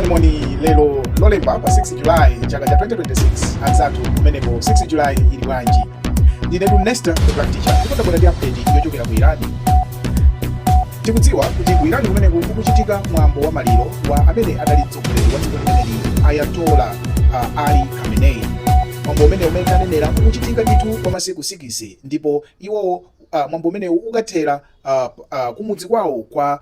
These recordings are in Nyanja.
moni lero lolemba pa 6 julayi chaka cha 2026 anzathu kumeneko 6 julayi ili bwanji ndinetu nesta the black teacher ndipo tabwera ndi update yochokera ku irani tikudziwa kuti ku irani kumeneko kukuchitika mwambo wa maliro wa amene adali mtsogoleri wa dziko limeneli ayatola uh, ali khamenei mwambo umene mmene tanenera kukuchitika ndithu kwa masiku 6 ndipo iwowo uh, mwambo umenewu ukathera uh, uh, kumudzi kwawo kwa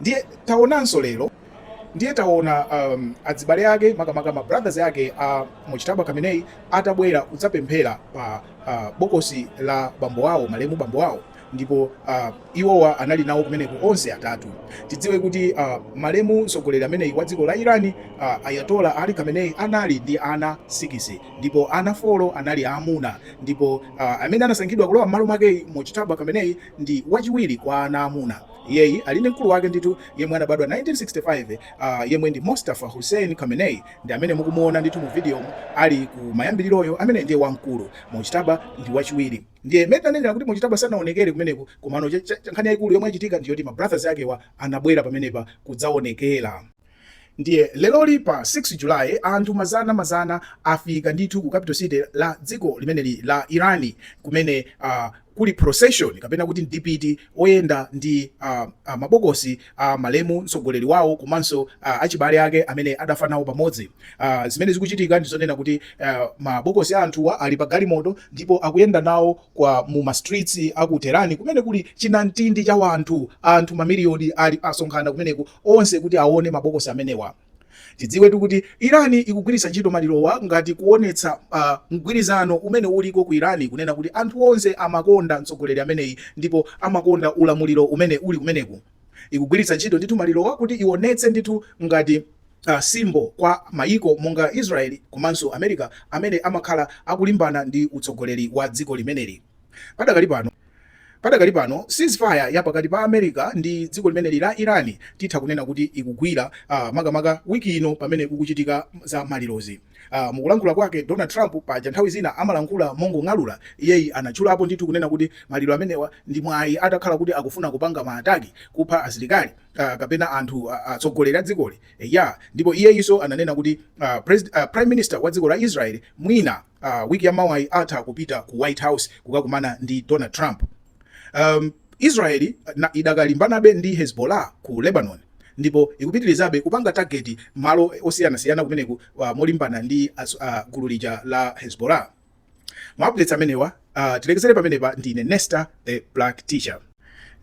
ndiye taonanso lero ndiye taona um, adzibale ake makamaka ma brothers ake a mojtaba khamenei atabwera kudzapemphera pa uh, bokosi la bambo wawo malemu bambo wawo ndipo uh, iwowa anali nawo kumeneko onse atatu tidziwe kuti uh, malemu mtsogoleri ameneyi wa dziko la irani uh, ayatola ali khamenei anali ndi ana 6 ndipo ana 4 anali aamuna ndipo uh, amene anasankhidwa kulowa m'malo mwake mojtaba khamenei ndi wachiwiri kwa ana aamuna iyeyi ali ndi mkulu wake ndithu yemwe anabadwa 1965 uh, ah, yemwe ndi Mostafa Hosseini Khamenei ndi amene mukumuona ndithu mu video ali ku mayambiriroyo amene ndiye wamkulu Mojtaba ndi wachiwiri ndiye mmene tanenera kuti Mojtaba sanaonekere kumeneko komano nkhani yaikulu yomwe yachitika ndiyoti ma brothers akewa anabwera pamenepa kudzaonekera Ndiye leroli pa 6 July anthu mazana mazana afika ndithu ku capital city la dziko limeneli la Irani kumene uh, kuli procession kapena kuti mdipiti oyenda ndi uh, uh, mabokosi a uh, malemu mtsogoleri wawo komanso uh, achibale ake amene adafa nawo pamodzi. Uh, zimene zikuchitika ndi zonena kuti uh, mabokosi a anthuwa ali pa galimoto ndipo akuyenda nawo mu ma streets aku Tehran kumene kuli chinamtindi cha wanthu anthu mamiliyoni ali asonkhana kumeneku onse kuti aone mabokosi amenewa. Tidziwetu kuti Iran ikugwiritsa ntchito malirowa ngati kuonetsa uh, mgwirizano umene uliko ku Iran kunena kuti anthu onse amakonda mtsogoleri ameneyi ndipo amakonda ulamuliro umene uli kumeneku. Ikugwiritsa ntchito ndithu malirowa kuti ionetse ndithu ngati uh, symbol kwa mayiko monga Israel komanso America amene amakhala akulimbana ndi utsogoleri wa dziko limeneli. Padakali pano, Padakali pano ceasefire ya pakati pa America ndi dziko limeneli la Iran titha kunena kuti ikugwira uh, makamaka wiki ino pamene kukuchitika za malirozi. Uh, mukulankhula kwake Donald Trump paja nthawi zina amalankhula mongong'alula, iyeyi anatchulapo ndithu kunena kuti maliro amenewa ndi mwayi atakhala kuti akufuna kupanga maataki kupha asilikali uh, kapena anthu atsogoleri uh, a dzikoli ya yeah. Ndipo iyeyinso ananena kuti uh, uh, Prime Minister wa dziko la Israel mwina wiki ya mawayi atha kupita ku white house kukakumana ndi donald trump um, israeli idakalimbanabe ndi hezbollah ku lebanon ndipo ikupitirizabe kupanga target malo osiyanasiyana kumeneku uh, molimbana ndi uh, gulu lija la hezbollah maupdates amenewa uh, tilekezere pamenepa ndine nesta the black teacher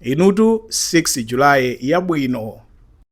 inutu 6 julayi yabwino